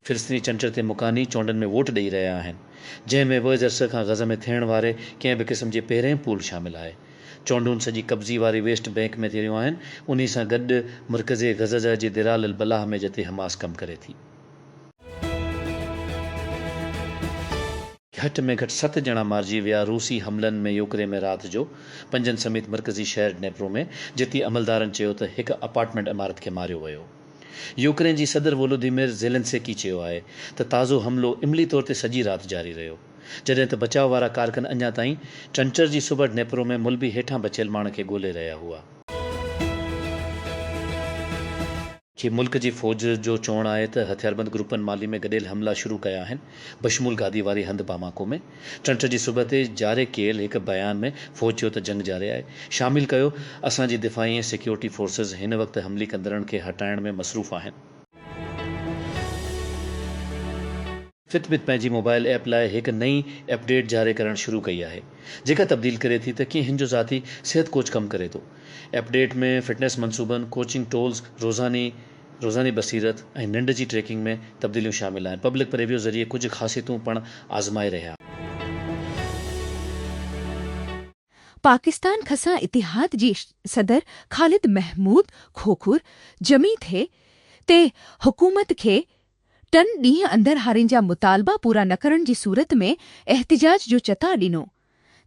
فلسطيني چنچڙ تي مڪاني چونڊن ۾ ووٽ ڏئي رهيا آهن، جنهن ۾ وويز عرصي کان غزه ۾ ٿيڻ واري ڪنهن به قسم جي پهرين پول شامل آهي. چونڊون سڄي قبضي واري ويسٽ بينڪ ۾ ٿي رهيون آهن، انهي سان گڏ مرڪزي غزه جي درال البلاح ۾ جتي حماس ڪم ڪري ٿي. گهٽ ۾ گهٽ ست ڄڻا مارجي ويا روسي حملن ۾ يوڪرين ۾ رات جو پنجن سميت مرڪزي شهر ڊنيپرو ۾ جتي عملدارن چيو ته هڪ اپارٽمينٽ عمارت کي ماريو ويو يوڪرين جي صدر وولوديمير زيلنسڪي چيو آهي ته تازو حملو عملي طور تي سڄي رات جاري رهيو جڏهن ته بچاء وارا ڪارڪن اڃا تائين چنچر جي صبح ڊنيپرو ۾ ملبي هيٺان بچيل ماڻهن کي ڳولي رهيا هئا. جي ملڪ جي فوج جو چوڻ آهي ته هٿياربند گروپن مالي ۾ گڏيل حملا شروع ڪيا آهن، بشمول گادي واري هنڌ باماڪو ۾. چڻچ جي صبح تي جاري ڪيل هڪ بيان ۾ فوج چيو ته جنگ جاري آهي، شامل ڪيو اسان جي دفاعي ۽ سيڪيورٽي فورسز هن وقت حملي ڪندڙن کي هٽائڻ ۾ مصروف آهن. فٽ بٽ پنهنجي موبائل ايپ لاء هڪ نئين اپ ڊيٽ جاري ڪرڻ شروع ڪئي آهي جيڪا تبديل ڪري ٿي ته ڪيئن هن جو ذاتي صحت ڪوچ ڪم ڪري ٿو. اپ ڊيٽ ۾ فٽنيس منصوبن، ڪوچنگ ٽولز، روزاني روزاني بصيرت ۽ ننڊ جي ٽريڪنگ ۾ تبديليون شامل آهن. پبلڪ پريويو ذريعي ڪجهه خاصيتون پڻ آزمائي رهيا. پاڪستان کسان اتحاد جي صدر خالد محمود کوکر جمعي تي حڪومت کي ٽن ڏينهن اندر هارين جا مطالبا پورا نه ڪرڻ جي صورت ۾ احتجاج جو چتاء ڏنو،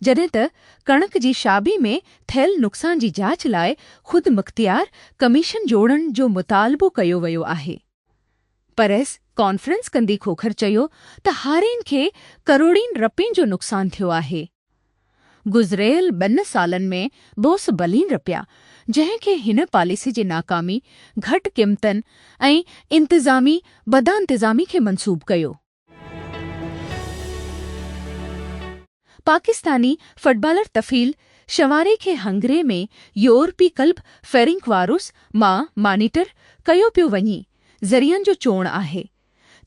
جڏهن ته ڪڻڪ جي شعبي ۾ ٿيل نقصان جي جاچ لاء خودمختيار ڪميشن جوڙڻ جو مطالبو ڪيو ويو آهي. پريس ڪانفرنس ڪندي کوکر چيو ته هارين کي ڪروڙين رپين جو نقصان ٿيو آهي، گذريل ٻن سالن ۾ بوس بلين رپيا جنهن کي هن پاليسي جي ناڪامي، گهٽ قيمتن ۽ انتظامي بدانتظامي کي منسوب ڪيو. پاڪستاني فٽبالر طفيل شنواري کي هنگري ۾ يورپي ڪلب فيرنڪوارس مان مانيٽر ڪيو پيو وڃي، ذريعن جو چوڻ آهي.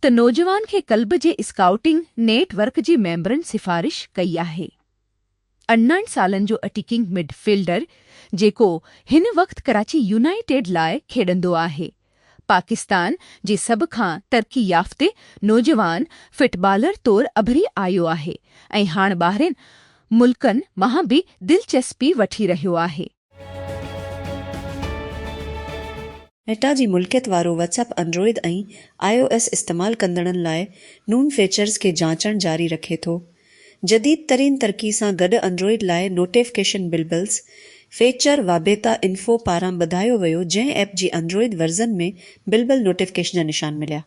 ته نوجوان کي ڪلب جي اسڪائوٽنگ نيٽ ورڪ جي ميمبرن سفارش ڪئي آهي. ارڙهن سالن جو اٽيڪنگ مڊ فيلڊر جيڪو هن وقت ڪراچي يونائيٽيڊ لاء کيڏندو آهي، پاڪستان جي سڀ کان ترقي يافته نوجوان فٽ بالر طور اڀري آيو آهي ۽ هاڻ ٻاهرين ملڪن مان به دلچسپي وٺي رهيو آهي. ميٽا جي ملڪيت وارو WhatsApp Android ۽ I O S استعمال ڪندڙن لاء نون فيچرز کي جانچڻ جاري رکي ٿو. جديد ترين ترقي سان گڏ انڊرائيڊ لاء notification bubbles feature WABetaInfo پاران ٻڌايو ويو جنهن ايپ جي انڊرائيڊ ورزن ۾ بلبل نوٽيفڪيشن جا نشان مليا.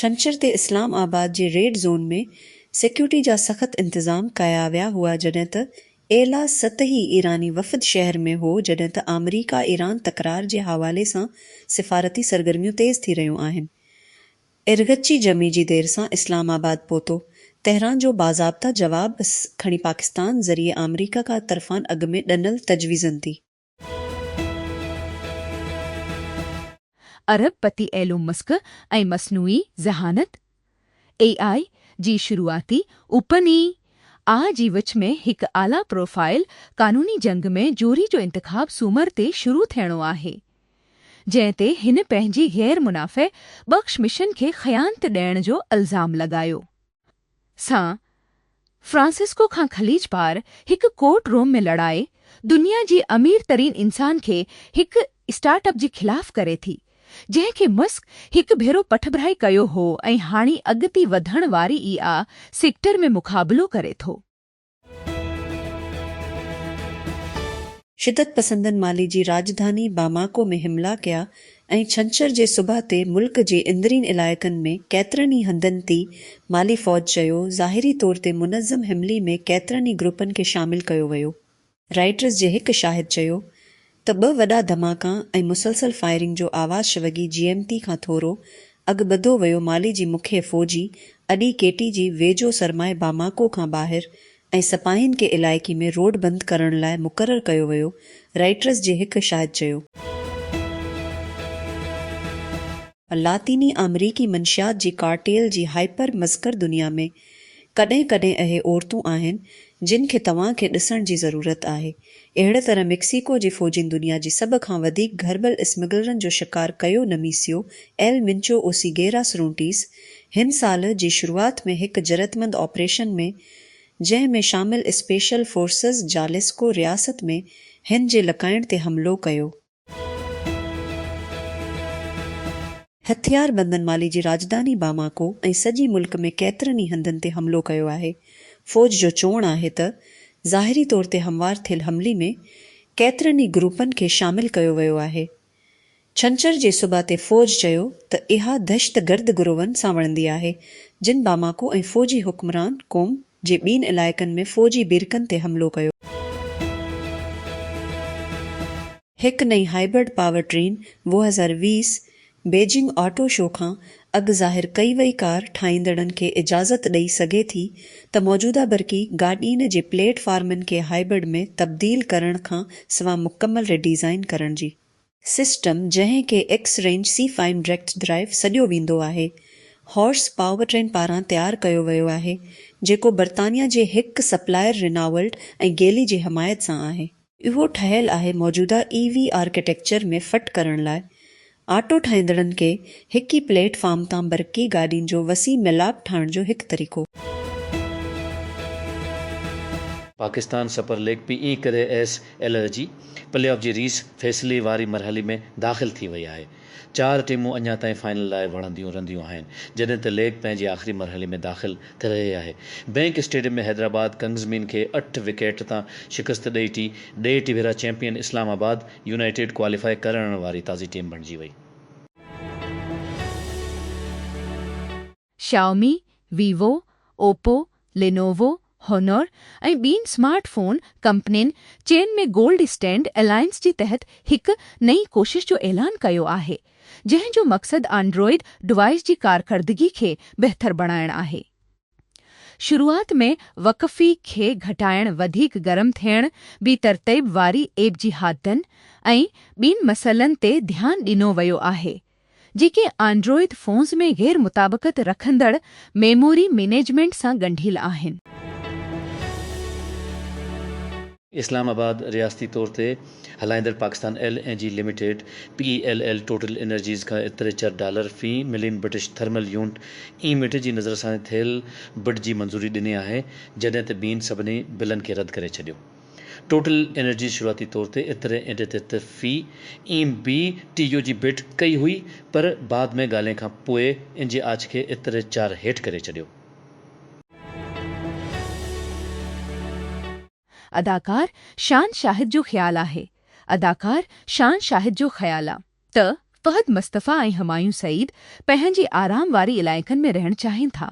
ڇنڇر تي اسلام آباد جي ريڊ زون ۾ سيڪيورٽي جا سخت انتظام ڪيا ويا هئا جڏهن ته اعليٰ سطحي ايراني وفد شهر ۾ هو جڏهن ته آمريڪا ايران تڪرار جي حوالي سان سفارتي سرگرميون تيز ٿي رهيون آهن ارغچي جمعي جي دير سان اسلام آباد پهتو تهران جو باضابطه جواب کڻي پاڪستان ذريعي آمريڪا ڪا طرفان اڳ ۾ ڏنل تجويزن تي ارب پتي ايلون مسڪ ۽ مصنوعي ذهانت، AI، جي شروعاتي اوپن اي آء جي وچ ۾ هڪ اعليٰ پروفائيل قانوني جنگ ۾ جوري جو انتخاب سومر تي شروع ٿيڻو آهي، جنهن تي هن پنهنجي غير منافع بخش مشن کي خيانت ڏيڻ جو الزام لڳايو. سان فرانسسڪو کان خليج پار هڪ ڪورٽ روم ۾ لڙائي دنيا جي امير ترين انسان کي هڪ اسٽارٽ اپ جي خلاف ڪري ٿي جنهن کي مسڪ هڪ ڀيرو پٺڀرائي ڪيو هو ۽ هاڻي اڳتي وڌڻ واري اي آء سيڪٽر ۾ مقابلو ڪري ٿو. شدت پسندن مالي جي راڄڌاني باماڪو ۾ حملا ڪيا ۽ ڇنڇر جي صبح تي ملڪ جي اندرين علائقن ۾ ڪيترن ئي هنڌن تي مالي فوج چيو ظاهري طور تي منظم حملي ۾ ڪيترن ئي گروپن کي شامل ڪيو ويو رائٽرز جي هڪ شاهد چيو ته ٻه وڏا ڌماڪا ۽ مسلسل فائرنگ جو آواز شوگي جي ايم تي کان ٿورو اڳ ٻڌو ويو مالي جي مکيه فوجي اڏي ڪيٽي جي ويجهو سرمائي باماڪو کان ٻاهر ۽ سپاهين کي علائقي ۾ روڊ بند ڪرڻ لاء مقرر ڪيو ويو رائٽرز جي هڪ شاهد چيو ته لاطيني آمريڪي منشيات جي ڪارٽيل جي هائپر مذڪر دنيا ۾ ڪڏهن ڪڏهن اهي عورتون آهن جن کي توهان کي ڏسڻ جي ضرورت آهي. اهڙي طرح ميڪسيڪو جي فوجين دنيا جي سڀ کان وڌيڪ گهربل اسمگلرن جو شڪار ڪيو نميسيو ايل منچو اوسيگيرا سرونٽيس هن سال جي شروعات ۾ هڪ جرئتمند آپريشن ۾ جنهن ۾ شامل اسپيشل فورسز جاليسڪو رياست ۾ هن جي لڪائڻ تي حملو ڪيو. هٿياربندن مالي جي راڄڌاني باماڪو ۽ سڄي ملڪ ۾ ڪيترن ئي هنڌن تي حملو ڪيو آهي. فوج جو چوڻ آهي ته ظاهري طور تي هموار ٿيل حملي ۾ ڪيترن ئي گروپن کي شامل ڪيو ويو آهي. ڇنڇر جي صبح تي فوج چيو ته اها دهشتگرد گروهن سان وڙهندي آهي جن باماڪو ۽ فوجي حڪمران قوم جي ٻين علائقن ۾ فوجي بيرڪن تي حملو ڪيو. هڪ نئين هائبرڊ پاور ٽرين ووهه هزار ويهه بيجنگ آٽو شو کان اڳ ظاهر ڪئي وئي ڪار ٺاهيندڙن کي اجازت ڏئي سگهي ٿي ته موجوده برقي گاڏين جي پليٽ فارمن کي هائبرڊ ۾ تبديل ڪرڻ کان سوا مڪمل ري ڊيزائين ڪرڻ جي سسٽم جنهن کي X range C fine react drive سڏيو ويندو آهي، هارس پاورٽرين پاران تيار ڪيو ويو آهي، جيڪو برطانيا جي هڪ سپلائر ريناولٽ ۽ گيلي جي حمايت سان آهي. اهو ٺهيل آهي موجوده اي وي آرڪيٽيڪچر ۾ فٽ ڪرڻ لاء. آٽو ٺاهيندڙن کي هڪ ئي پليٽ فارم تان برقي گاڏين جو وسيع ميلاپ ٺاهڻ جو هڪ طريقو. پاڪستان سپر ليگ پي اي ڪري ايس ايل اي جي پلي آف جي ريس فيصلي واري مرحلي ۾ داخل ٿي وئي آهي، چار ٽيمون اڃا تائين فائنل لاء وڙهنديون رھنديون آھن، جڏھن ته ليگ پنهنجي آخري مرحلي ۾ داخل ٿي رھي آھي. بئنڪ اسٽيڊيم ۾ حيدرآباد ڪنگزمين کي اٺ وڪيٽ تان شڪست ڏئي ٽي ڊي ٽي ڀيرا champion Islamabad United qualify ڪرڻ واري تازي ٽيم بڻجي وئي. شائومي، ويوو، اوپو، لينووو، هونور ۽ ٻين سمارٽ فون ڪمپنين چين ۾ گولڊ اسٽينڊ الائنس جي تحت هڪ نئين ڪوشش جو اعلان ڪيو آهي، جنهن جو مقصد آنڊروئيڊ ڊوائيس جي ڪارڪردگي کي بهتر بڻائڻ آهي. شروعات ۾ وقفي کي گهٽائڻ، وڌيڪ گرم ٿيڻ، بي ترتيب واري ايپ جي حادثن ۽ ٻين مسئلن تي ڌيان ڏنو ويو آهي. جيڪي آنڊروئيد فونز ۾ غير مطابقت رکندڙ ميموري مينيجمينٽ سان ڳنڍيل آهن. اسلام آباد، رياستي طور تي هلائيندڙ Pakistan L N G limited, P E L L, total energies کان اتري چر ڊالر في ملين برٽش ٿرمل يونٽ، اي ميٽر، جي نظر ساڻي ٿيل بڊ جي منظوري ڏني آهي، جڏهن ته بين سڀني بلن کي رد ڪري ڇڏيو. ٽوٽل انرجي شروعاتي طور تي ايتري ايڊيٽيٽ في ايم بي ٽي يو جي بيڊ ڪئي هئي پر بعد ۾ ڳالهين کان پوء ان جي آڇ کي ايتري چار هيٺ ڪري ڇڏيو. اداڪار شان شاهد جو خيال آهي اداڪار شان شاهد جو خيال آ ته فهد مصطفي ۽ همايون سعيد پنهنجي آرام واري علائقن ۾ رهڻ چاهين ٿا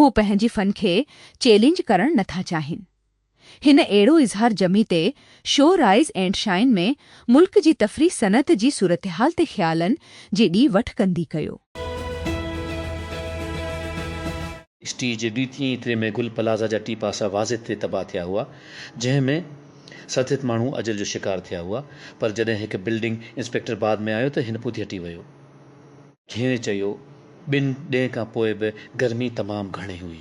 هو پنهنجي فن کي چئلينج ڪرڻ نٿا چاهين هن اهڙو اظهار جمعي تي شو رائيز اينڊ شائين ۾ ملڪ جي تفريح صنعت جي صورتحال تي خيالن جي ڏي وٺ ڪندي ڪيو. اسٽيج جي ڏيتين ئي تري ۾ گل پلازا جا ٽي پاسا واضح تري تباهه ٿيا هئا، جنهن ۾ سرتيت ماڻهو اجل جو شڪار ٿيا هئا، پر جڏهن هڪ بلڊنگ انسپيڪٽر بعد ۾ آيو ته هن پوڌي هٽي ويو. گهيري چيو، ٻن ڏينهن کان پوء به گرمي تمام گهڻي هئي.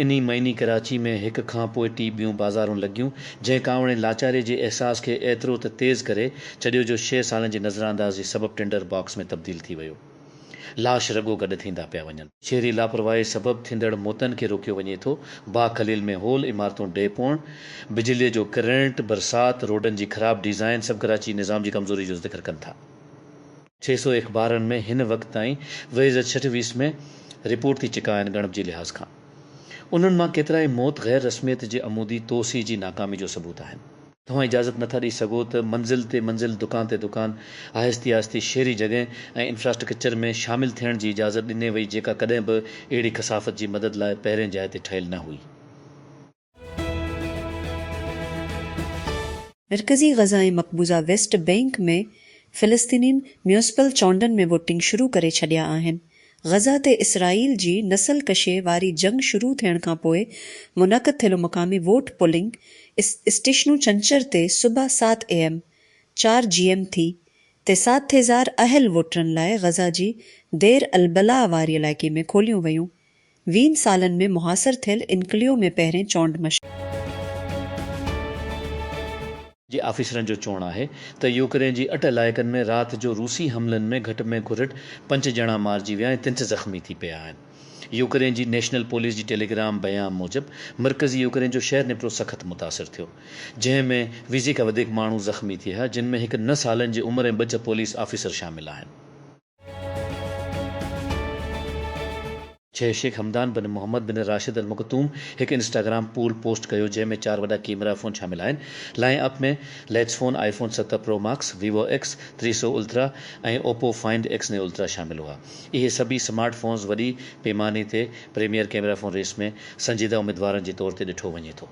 انهي مهيني ڪراچي ۾ هڪ کان پوء ٽي ٻيون بازارون لڳيون، جنهن ڪانوڙي لاچاري جي احساس کي ايترو ته تيز ڪري ڇڏيو جو شيء سالن جي نظراندازي سبب ٽنڊر باڪس ۾ تبديل ٿي ويو. لاش رڳو گڏ ٿيندا پيا وڃن. شهري لاپرواهي سبب ٿيندڙ موتن کي روڪيو وڃي ٿو، باغ خليل ۾ هول عمارتون ڊهي پوڻ، بجليء جو ڪرنٽ، برسات، روڊن جي خراب ڊيزائن سڀ ڪراچي جي نظام جي ڪمزوري جو ذڪر ڪن ٿا. ڇهه سؤ اخبارن ۾ هن وقت تائين ويهه هزار ڇهه سؤ ويس ۾ رپورٽ ٿي چڪا آهن ڳڻپ جي لحاظ کان انهن مان ڪيترائي موت غير رسميت جي عمودي توسيع جي ناڪامي جو ثبوت آهن. توهان اجازت نٿا ڏئي سگهو ته منزل تي منزل دڪان تي دڪان آهستي آهستي شهري جڳهه ۽ انفراسٽرڪچر ۾ شامل ٿيڻ جي اجازت ڏني وئي جيڪا ڪڏهن به اهڙي ڪثافت جي مدد لاء پهرين جاء تي ٺهيل نه هئي. مرڪزي غزه ۽ مقبوضه ويسٽ بئنڪ ۾ فلسطينين ميونسپل چونڊن ۾ ووٽنگ شروع ڪري ڇڏيا آهن. غزه تي اسرائيل جي نسل ڪشي واري جنگ شروع ٿيڻ کانپوء منعقد ٿيل مقامي ووٽ پولنگ اسٽيشنون ڇنڇر تي صبح سات اي ايم، چار جي ايم ٿي، تي سات هزار اهل ووٽرن لاء غزه جي دير البلاء واري علائقي ۾ کوليون ويون ويهن سالن ۾ محاصر ٿيل انڪليو ۾ پهرين چونڊ مشق. جي آفيسرن جو چوڻ آهي ته يوڪرين جي اٽ علائقن ۾ رات جو روسي حملن ۾ گهٽ ۾ گهرٽ پنج ڄڻا مارجي ويا ۽ تنت زخمي ٿي پيا آهن. يوڪرين جي نيشنل پوليس جي ٽيليگرام بيان موجب مرڪزي يوڪرين جو شهر نپرو سخت متاثر ٿيو جنهن ۾ ويهه کان وڌيڪ ماڻهو زخمي ٿيها جن ۾ هڪ نه سالن جي عمر ۽ ٻه چه پوليس آفيسر شامل آهن. چھ Sheikh Hamdan bin Mohammed bin Rashid Al Maktoum ھڪ انسٽاگرام پول پوسٽ ڪيو جنھن ۾ چار وڏا ڪيمرا فون شامل آھن line up ۾ latest phone iPhone ست پرو ماڪس ويوو ايڪس ٽي سؤ الترا ۽ اوپو فائنڊ ايڪس ني الترا شامل ھئا اھي سڀئي سمارٽ فونز وڏي پيماني تي پريميئر ڪيمرا فون ريس ۾ سنجيده اميدوارن جي طور تي ڏٺو وڃي ٿو.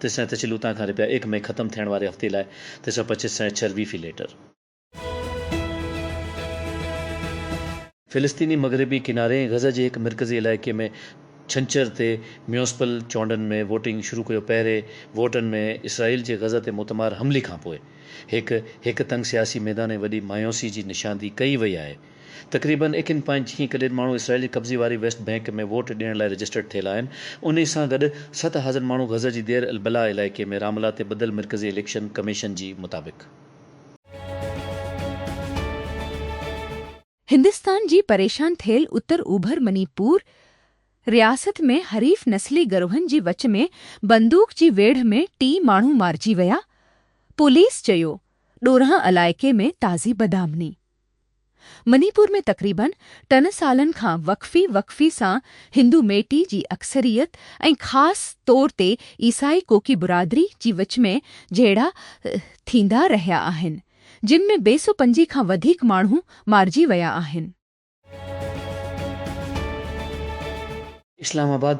تي سين تشيل اتان کان رپيا ايڪ مئي ختم ٿيڻ واري هفتي لاء تي سئو پچيس سين ڇهر وي في ليٽر. فلسطيني مغربي ڪناري ۽ غزه جي هڪ مرڪزي علائقي ۾ ڇنڇر تي ميونسپل چونڊن ۾ ووٽنگ شروع ڪيو پهرين ووٽن ۾ اسرائيل جي غزه تي موتمار حملي کانپوء هڪ هڪ تنگ سياسي ميدان ۽ وڏي مايوسي جي نشاندهي ڪئي وئي آهي. تقريبن ايڪن پوائنٽ جيئن ڪڏهن ماڻهو اسرائيلي قبضي واري ويسٽ بئنڪ ۾ ووٽ ڏيڻ لاء رجسٽرڊ ٿيل آهن انهي سان گڏ ست هزر ماڻهو غزه جي دير البلاء علائقي ۾ راملا تي ٻڌل مرڪزي اليڪشن ڪميشن جي مطابق. هندستان جي پريشان ٿيل اتر اوڀر مني پور رياست ۾ حريف نسلي گروهن جي وچ ۾ بندوق جي ويڙهه ۾ ٽي ماڻهو مارجي ويا، پوليس چيو، ڏورانهن علائقي ۾ تازي بدامني. مني پور ۾ تقريبن ٽن سالن کان وقفي وقفي سان هندو ميٽي جي اڪثريت ۽ خاص طور تي عيسائي ڪوڪي برادري جي وچ ۾ جهيڙا ٿيندا رهيا آهن جن ۾ بي سو پنجي کان وڌيڪ ماڻهو مارجي ويا آهن. اسلام آباد،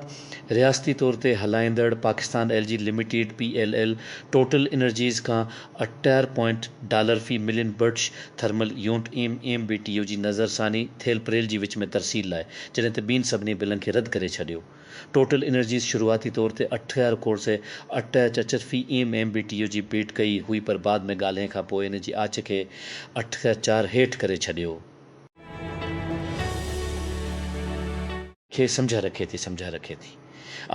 رياستي طور تي هلائيندڙ Pakistan L G limited, P L L, total energies کان اٺٽيهه پوائنٽ ڊالر في million British thermal unit M M B T U جي نظر ثاني ٿيل پريل جي وچ ۾ ترسيل لاء جڏهن ته ٻين سڀني بلن کي رد ڪري ڇڏيو. ٽوٽل انرجيز شروعاتي طور تي اٺهر ڪور سئي اٺٽيهه چچر في M M B T U جي بيڊ ڪئي هئي پر بعد ۾ ڳالهين کان پوء ان جي آڇ کي اٺهر چار هيٺ ڪري ڇڏيو. کي سمجهه رکي ٿي سمجهه رکي ٿي.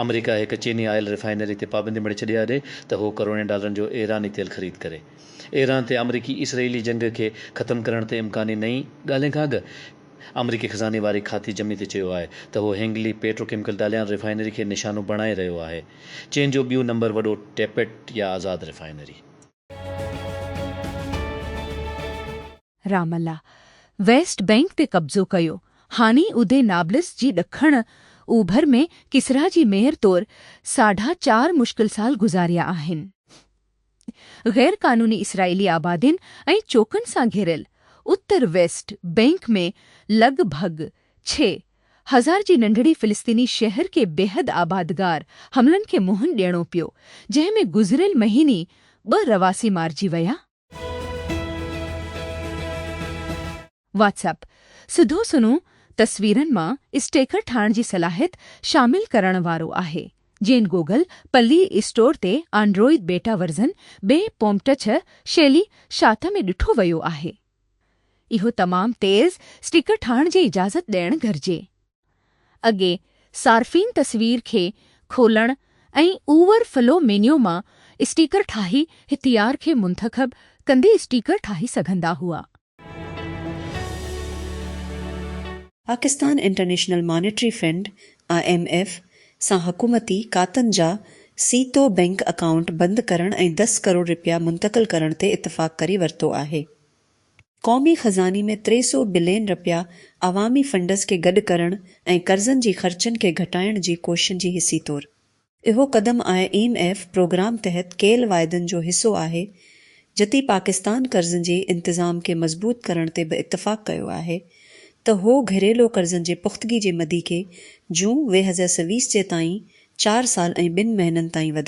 آمريڪا هڪ چيني آئل ريفائنري تي پابندي مڙهي ڇڏي آهي ته هو ڪروڙين ڊالرن جو ايراني تيل خريد ڪري. ايران تي آمريڪي اسرئيلي جنگ کي ختم ڪرڻ تي امڪاني نئين ڳالهين کان اڳ آمريڪي خزاني واري کاتي جمي تي چيو آهي ته هو Hengli petrochemical Dalian refinery کي نشانو بڻائي رهيو آهي چين جو ٻيون نمبر وڏو ٽيپٽ يا آزاد refinery Ramallah west bank تي قبضو ڪيو، هاڻي ادي نابلس جي ڏکڻ اوڀر ۾ ڪسرا جي ميئر طور ساڍا چار مشڪل سال گذاريا آهن. غير قانوني اسرائيلي آبادين ۽ چوڪن سان گهيريل اتر ويسٽ بئنڪ ۾ لڳ ڀڳ ڇهه هزار جي ننڍڙي فلسطيني شهر کي بيحد آبادگار حملن کي منهن ڏيڻو پيو، جنهن ۾ گذريل مهيني ٻه رهواسي مارجي ويا. واٽس اپ، سڌو سنئون تصويرن مان اسٽيڪر ٺاهڻ جي صلاحيت شامل ڪرڻ وارو آهي، جنھن گوگل پلي اسٽور تي آنڊروئيڊ بيٽا ورزن ۾ پومٽڇ شيلي شاته ۾ ڏٺو ويو آهي. اهو تمام تيز اسٽيڪر ٺاهڻ جي اجازت ڏيڻ گهرجي. اڳي صارفين تصوير کي کولڻ ۽ اوور فلو مينيو مان اسٽيڪر ٺاهي هٿيار کي منتخب ڪندي اسٽيڪر ٺاهي سگهندا هئا. Pakistan international monetary fund, I M F, سان حڪومتي کاتن جا سيتو بئنڪ اڪائونٽ بند ڪرڻ ۽ دس ڪروڙ رپيا منتقل ڪرڻ تي اتفاق ڪري ورتو آهي. قومي خزاني ۾ ٽي سؤ بلين رپيا عوامي فنڊز کي گڏ ڪرڻ ۽ قرضن جي خرچن کي گهٽائڻ جي ڪوششن جي حصي طور اهو قدم آء ايم ايف پروگرام تحت ڪيل واعدن جو حصو آهي جتي پاڪستان قرضن جي انتظام کي مضبوط ڪرڻ تي به اتفاق ڪيو آهي ته هو گهريلو قرضن جي پختگي جي مدي کي جون ويهزء سويس جي تائين چار سال ۽ ٻن مهينن تائين وڌائي